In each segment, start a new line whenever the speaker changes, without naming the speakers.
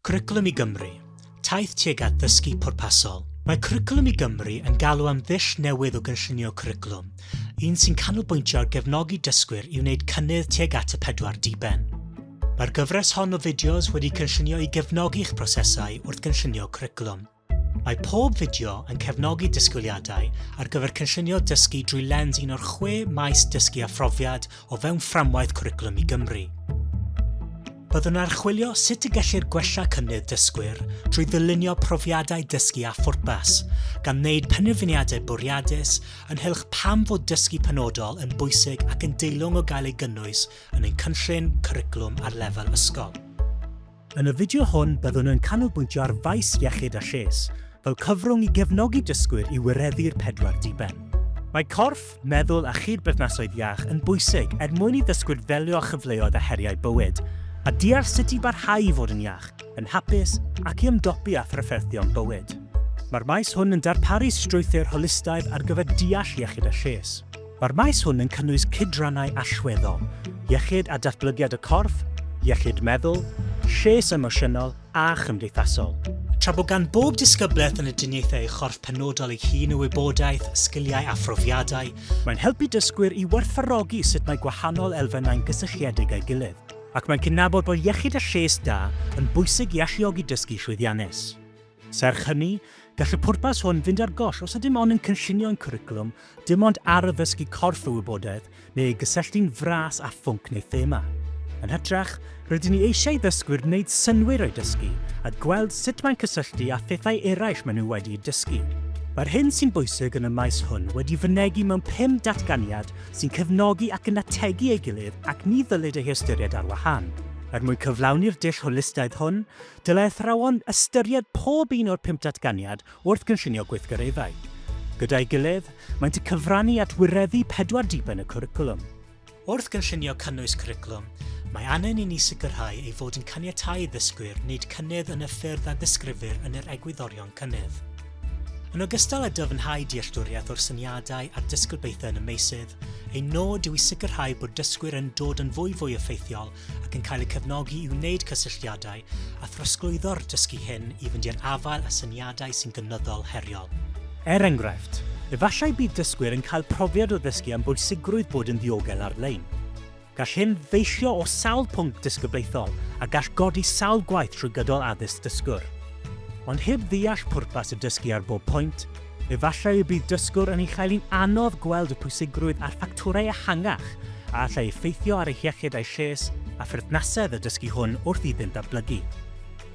Cwricwlwm i Gymru, Taith tuag at ddysgu pwrpasol. Mae Cwricwlwm i Gymru yn galw am ddull newydd o gynllunio cwricwlwm, un sy'n canolbwyntio ar gefnogi dysgwyr i wneud cynnydd tuag at y pedwar diben. Mae'r gyfres hon o fideos wedi cynllunio i gefnogi eich prosesau wrth gynllunio cwricwlwm. Mae pob fideo yn cefnogi disgwyliadau ar gyfer cynllunio dysgu drwy lens un o'r chwe maes dysgu a phrofiad o fewn fframwaith Cwricwlwm i Gymru. Byddwn yn archwilio sut y gellir gwella cynnydd dysgwyr drwy ddylunio profiadau dysgu a phwrpas, gan wneud penderfyniadau bwriadus ynghylch pam fod dysgu penodol yn bwysig ac yn deilwng o gael ei gynnwys yn ein cynllun cwricwlwm ar lefel ysgol. Yn y fideo hwn byddwn yn canolbwyntio ar faes iechyd a lles, fel cyfrwng i gefnogi dysgwyr i wireddu'r pedwar diben. Mae corff, meddwl a chyd-berthnasoedd iach yn bwysig er mwyn i ddysgwyr ddelio â chyfleoedd a heriau bywyd, a deall sut i barhau i fod yn iach, yn hapus ac i ymdopi â thrafferthion bywyd. Mae'r maes hwn yn darparu strwythur holistaidd ar gyfer deall iechyd a lles. Mae'r maes hwn yn cynnwys cydrannau allweddol, iechyd a datblygiad y corff, iechyd meddwl, lles emosiynol a chymdeithasol. Tra bod gan bob disgyblaeth yn y diniaethau ei chorff penodol ei hun o wybodaeth, sgiliau a phrofiadau, mae'n helpu dysgwyr i werthfawrogi sut mae gwahanol elfennau'n gysylltiedig â'i gilydd, ac mae'n cydnabod bod iechyd a lles da yn bwysig i alluogi dysgu llwyddiannus. Serch hynny, gall y pwrpas hwn fynd ar goll os ydym ond yn cynllunio ein cwricwlwm dim ond ar addysgu corff y wybodaeth neu ei gysylltu'n fras â phwnc neu thema. Yn hytrach, rydyn ni eisiau i ddysgwyr wneud synnwyr o'i dysgu a gweld sut mae'n cysylltu â phethau eraill maen nhw wedi'u dysgu. Mae'r hyn sy'n bwysig yn y maes hwn wedi fynegi mewn pum datganiad sy'n cefnogi ac yn ategu ei gilydd ac ni ddylid eu hystyried ar wahân. Er mwyn cyflawni'r dull holistaidd hwn, Dylai athrawon ystyried pob un o'r pump datganiad wrth gynllunio gweithgareddau. Gyda'i gilydd, maent y cyfrannu at wireddu pedwar diben y cwricwlwm. Wrth gynllunio cynnwys cwricwlwm, mae angen i ni sicrhau ei fod yn caniatáu i ddysgwyr wneud cynnydd yn y ffyrdd a ddisgrifir yn yr egwyddorion cynnydd. Yn ogystal â dyfnhau dealltwriaeth o'r syniadau a'r disgyblaethau yn y meysydd, ein nod yw i sicrhau bod dysgwyr yn dod yn fwyfwy effeithiol ac yn cael eu cefnogi i wneud cysylltiadau a throsglwyddo'r dysgu hyn i fynd i'r afael â syniadau sy'n gynyddol heriol. Er enghraifft, efallai bydd dysgwyr yn cael profiad o ddysgu am bwysigrwydd bod yn ddiogel ar-lein. Gall hyn ddeillio o sawl pwnc disgyblaethol a gall godi sawl gwaith trwy gydol addysg dysgwr. Ond heb ddeall pwrpas y dysgu ar bob pwynt, Efallai y bydd dysgwr yn ei chael hi'n anodd gweld y pwysigrwydd a'r ffactorau ehangach a allai effeithio ar eu hiechyd a'u lles a pherthnasedd y dysgu hwn wrth iddynt ddatblygu.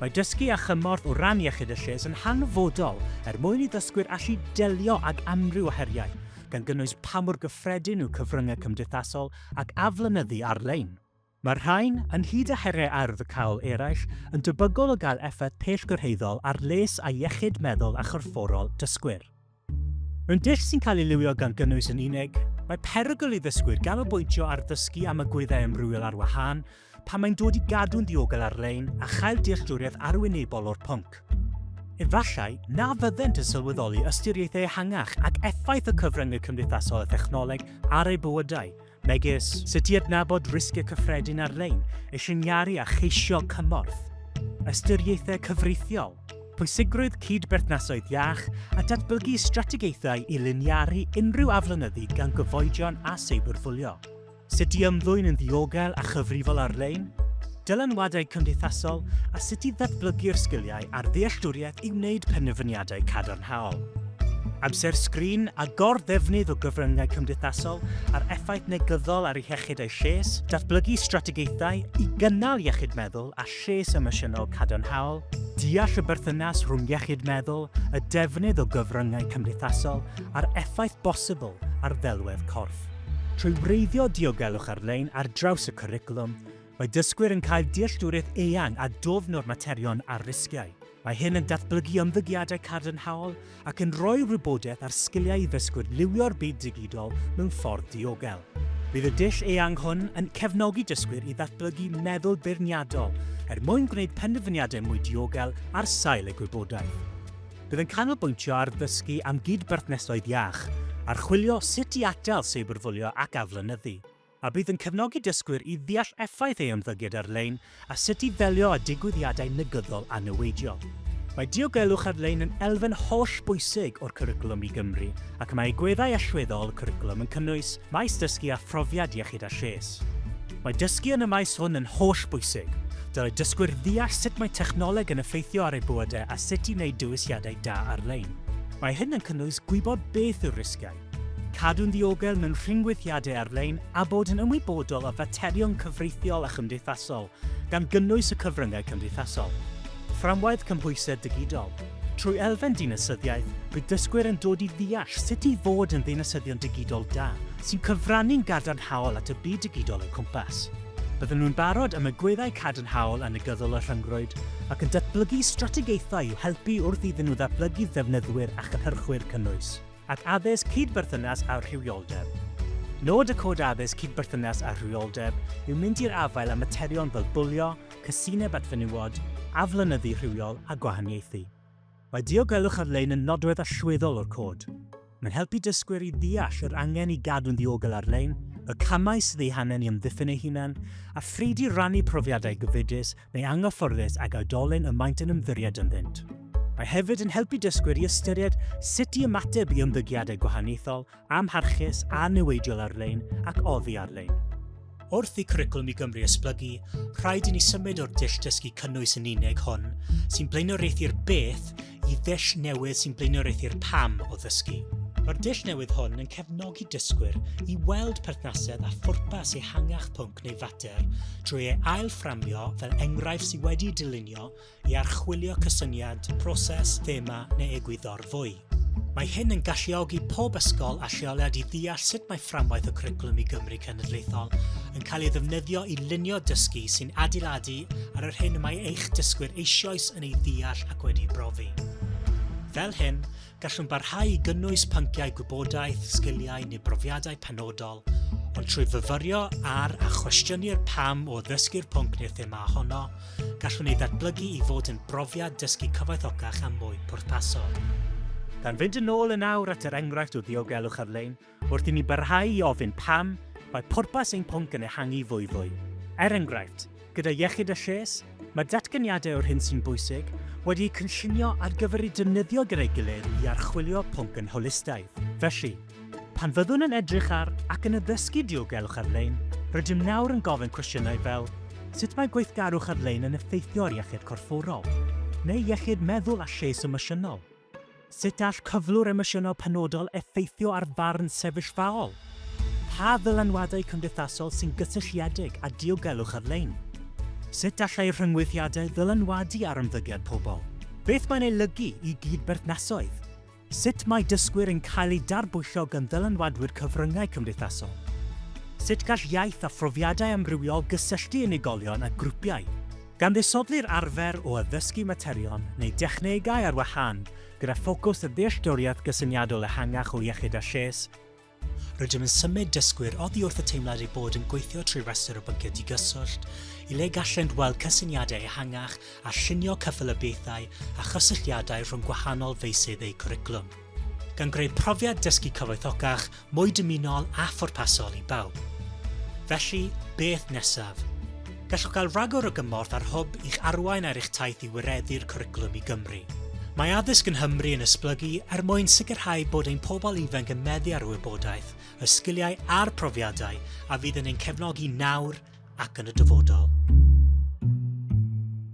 Mae dysgu â chymorth o ran iechyd a lles yn hanfodol er mwyn i ddysgwyr allu delio ag amryw o heriau, gan gynnwys pa mor gyffredin yw cyfryngau cymdeithasol ac aflonyddu ar-lein. Mae'r rhain, ynghyd â heriau ardd y cawl eraill, yn debygol o gael effaith pellgyrhaeddol ar les a iechyd meddwl a chorfforol dysgwyr. Mewn dull sy'n cael ei liwio gan gynnwys yn unig, mae perygl i ddysgwyr ganolbwyntio ar ddysgu am y gwyddau amrywiol ar wahân pan mae'n dod i gadw'n ddiogel ar-lein a chael dealltwriaeth arwynebol o'r pwnc. Efallai na fyddent yn sylweddoli ystyriaethau ehangach ac effaith y cyfryngau cymdeithasol a thechnoleg ar eu bywydau, megis sut i adnabod risgiau cyffredin ar-lein, eu lliniaru a cheisio cymorth, ystyriaethau cyfreithiol, pwysigrwydd cyd-berthnasoedd iach a datblygu strategaethau i liniaru unrhyw aflonyddu gan gyfoedion a seiberbwlio, sut i ymddwyn yn ddiogel a chyfrifol ar-lein, dylanwadau cymdeithasol a sut i ddatblygu'r sgiliau a'r ddealltwriaeth i wneud penderfyniadau cadarnhaol. Amser sgrin a gor-ddefnydd o gyfryngau cymdeithasol a'r effaith negyddol ar iechyd a'i lles, datblygu strategaethau i gynnal iechyd meddwl a lles emosiynol cadarnhaol, deall y berthynas rhwng iechyd meddwl, y defnydd o gyfryngau cymdeithasol a'r effaith bosibl ar ddelwedd corff. Trwy wreiddio diogelwch ar-lein ar draws y cwricwlwm, Mae dysgwyr yn cael dealltwriaeth eang a dwfn o'r materion a'r risgiau. Mae hyn yn datblygu ymddygiadau cadarnhaol ac yn rhoi'r wybodaeth a'r sgiliau i ddysgwyr liwio'r byd digidol mewn ffordd diogel. Bydd y dull eang hwn yn cefnogi dysgwyr i ddatblygu meddwl beirniadol er mwyn gwneud penderfyniadau mwy diogel ar sail eu gwybodaeth. Bydd yn canolbwyntio ar ddysgu am gyd-berthnasoedd iach, archwilio sut i atal seiberbwlio ac aflonyddu. a bydd yn cefnogi dysgwyr i ddeall effaith ei ymddygiad ar-lein a sut i ddelio â digwyddiadau negyddol a niweidiol. Mae diogelwch ar-lein yn elfen holl bwysig o'r Cwricwlwm i Gymru ac mae egwyddau allweddol y cwricwlwm yn cynnwys maes dysgu a phrofiad iechyd a lles. Mae dysgu yn y maes hwn yn holl bwysig. Dylai dysgwyr ddeall sut mae technoleg yn effeithio ar eu bywydau a sut i wneud dewisiadau da ar-lein. Mae hyn yn cynnwys gwybod beth yw'r risgiau, Cadw'n ddiogel mewn rhyngweithiadau ar-lein a bod yn ymwybodol o faterion cyfreithiol a chymdeithasol, gan gynnwys y cyfryngau cymdeithasol. Fframwaith cymhwysedd digidol. Trwy elfen dinasyddiaeth, bydd dysgwyr yn dod i ddeall sut i fod yn ddinasyddion digidol da, sy'n cyfrannu'n gadarnhaol at y byd digidol o'u cwmpas. Byddan nhw'n barod am y gweddau cadarnhaol a negyddol y rhyngrwyd, ac yn datblygu strategaethau i'w helpu wrth iddyn nhw ddatblygu ddefnyddwyr a chynhyrchwyr cynnwys. ac addysg cydberthynas â rhywioldeb. Nod y Cod Addysg Cydberthynas â Rhywioldeb yw mynd i'r afael â materion fel bwlio, casineb at fenywod, aflonyddu rhywiol a gwahaniaethu. Mae diogelwch ar-lein yn nodwedd allweddol o'r Cod. Mae'n helpu dysgwyr i ddeall yr angen i gadw'n ddiogel ar-lein, y camau sydd eu hangen i amddiffyn eu hunain, a phryd i rannu profiadau gyfidus neu anghyfforddus ag oedolyn y maent yn ymddiried ynddynt. Mae hefyd yn helpu dysgwyr i ystyried sut i ymateb i ymddygiadau gwahaniaethol, amharchus a niweidiol ar-lein ac oddi ar-lein. Wrth i Cwricwlwm i Gymru esblygu, rhaid i ni symud o'r dull dysgu cynnwys yn unig hon, sy'n blaenoriaethu'r beth i ddull newydd sy'n blaenoriaethu'r pam o ddysgu. Mae'r dull newydd hwn yn cefnogi dysgwyr i weld perthnasedd a phwrpas ehangach pwnc neu fater drwy ei ailfframio fel enghraifft sydd wedi dylunio i archwilio cysyniad, proses, thema neu egwyddor fwy. Mae hyn yn galluogi pob ysgol a lleoliad i ddeall sut mae fframwaith y cwricwlwm i Gymru cenedlaethol yn cael ei ddefnyddio i lunio dysgu sy'n adeiladu ar yr hyn y mae eich dysgwyr eisoes yn ei ddeall ac wedi'i brofi. Fel hyn, gallwn barhau i gynnwys pynciau gwybodaeth, sgiliau neu brofiadau penodol, ond trwy fyfyrio ar a chwestiynu'r pam o ddysgu'r pwnc neu'r thema honno, gallwn ei ddatblygu i fod yn brofiad dysgu cyfoethocach a mwy pwrpasol. Gan fynd yn ôl yn awr at yr enghraifft o ddiogelwch ar-lein, Wrth i ni barhau i ofyn pam, mae pwrpas ein pwnc yn ehangu fwyfwy. Er enghraifft, gyda Iechyd a Lles, mae datganiadau o'r hyn sy'n bwysig wedi'u cynllunio ar gyfer eu defnyddio gyda'i gilydd i archwilio pwnc yn holistaidd. Felly, pan fyddwn yn edrych ar ac yn addysgu diogelwch ar-lein, rydym nawr yn gofyn cwestiynau fel, Sut mae gweithgarwch ar-lein yn effeithio ar iechyd corfforol? neu iechyd meddwl a lles emosiynol? Sut all cyflwr emosiynol penodol effeithio ar farn sefyllfaol? Pa ddylanwadau cymdeithasol sy'n gysylltiedig â diogelwch ar-lein? Sut allai rhyngweithiadau ddylanwadu ar ymddygiad pobl? Beth mae'n ei olygu i gyd-berthnasoedd? Sut mae dysgwyr yn cael eu darbwyllo gan ddylanwadwyr cyfryngau cymdeithasol? Sut gall iaith a phrofiadau amrywiol gysylltu unigolion â grwpiau? Gan ddisodli'r arfer o addysgu materion neu dechnegau ar wahân gyda ffocws a ddealltwriaeth gysyniadol ehangach o iechyd a lles, rydym yn symud dysgwyr oddi wrth y teimlad eu bod yn gweithio trwy restr o bynciau digyswllt i le gallent weld cysyniadau ehangach a llunio cyffelybiaethau a chysylltiadau rhwng gwahanol feysydd eu cwricwlwm. gan greu profiad dysgu cyfoethocach, mwy dymunol a phwrpasol i bawb. Felly, beth nesaf? Gallwch gael rhagor o gymorth ar hwb i'ch arwain ar eich taith i wireddu'r cwricwlwm i Gymru. Mae addysg yn Nghymru yn esblygu er mwyn sicrhau bod ein pobl ifanc yn meddu ar y wybodaeth, y sgiliau a'r profiadau a fydd yn ein cefnogi nawr ac yn y dyfodol.